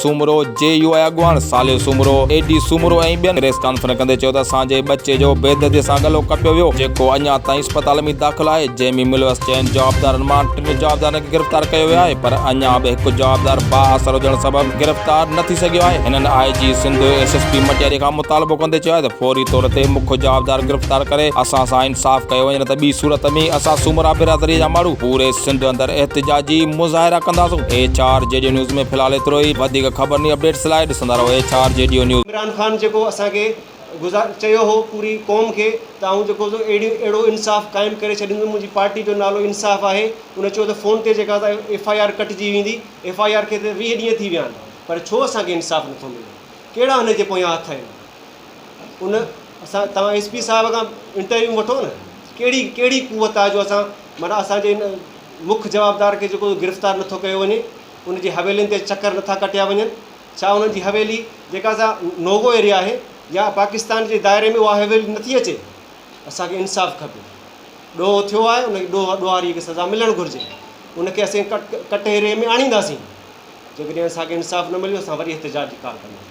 Soomro, J U I اڳواڻ Saleh Soomro, A D Soomro ۽ ٻين press conference ڪندي چيو ته اسان جي ٻچي جو بيدردي سان ڳلو ڪٽيو ويو جيڪو اڃا تائين اسپتال ۾ داخل آهي جنهن ۾ ملوث چئن جوابدارن مان ٽن جوابدارن کي گرفتار ڪيو ويو آهي پر اڃا به هڪ جوابدار بااثر هجڻ سبب گرفتار نه ٿي سگهيو آهي هنن I G Sindh S S P Matiari کان مطالبو ڪندي چيو آهي ته فوري طور تي مک جوابدار گرفتار ڪري اسان سان انصاف ڪيو وڃي نه ته ٻي صورت ۾ اسان سومرا برادري جا ماڻهو پوري سنڌ اندر احتجاجي مظاهرا ڪنداسون H R G D news ۾ في الحال ايترو ئي وڌيڪ خبرن ۽ اپڊيٽس لاء ڏسندا رهو H R G D news. Imran Khan جيڪو اسان کي گذار چيو هو پوري قوم کي ته آئون جيڪو سو اهڙي اهڙو انصاف قائم ڪري ڇڏيندس منهنجي پارٽي جو نالو انصاف آهي ان چيو ته فون تي جيڪا سا ايف آء آر ڪٽجي ويندي ايف آء آر کي ته ويهه ڏينهن ٿي ويا آهن پر ڇو اسان کي انصاف نٿو ملي ڪهڙا هن جي پويان هٿ آهن ان اسان توهان ايس پي صاحب کان انٽرويو وٺو نه ڪهڙي ڪهڙي قوت آهي جو اسان معنيٰ اسان جي ان مک جوابدار کي جيڪو گرفتار نه ٿو ڪيو وڃي، ان جي حويلين تي چڪر نه ٿا ڪٽيا وڃن، ڇا انهن جي حويلي جيڪا سا نو گو ايريا آهي يا پاڪستان جي دائري ۾ اها حويلي نه ٿي اچي؟ اسان کي انصاف کپي. ڏوهه ٿيو آهي ان کي ڏوهه ڏوهاري کي سزا ملڻ گهرجي. ان کي اسين ڪٽهري ۾ آڻينداسين. جيڪڏهن اسان کي انصاف نه مليو اسان وري احتجاج جي ڪال ڪنداسين.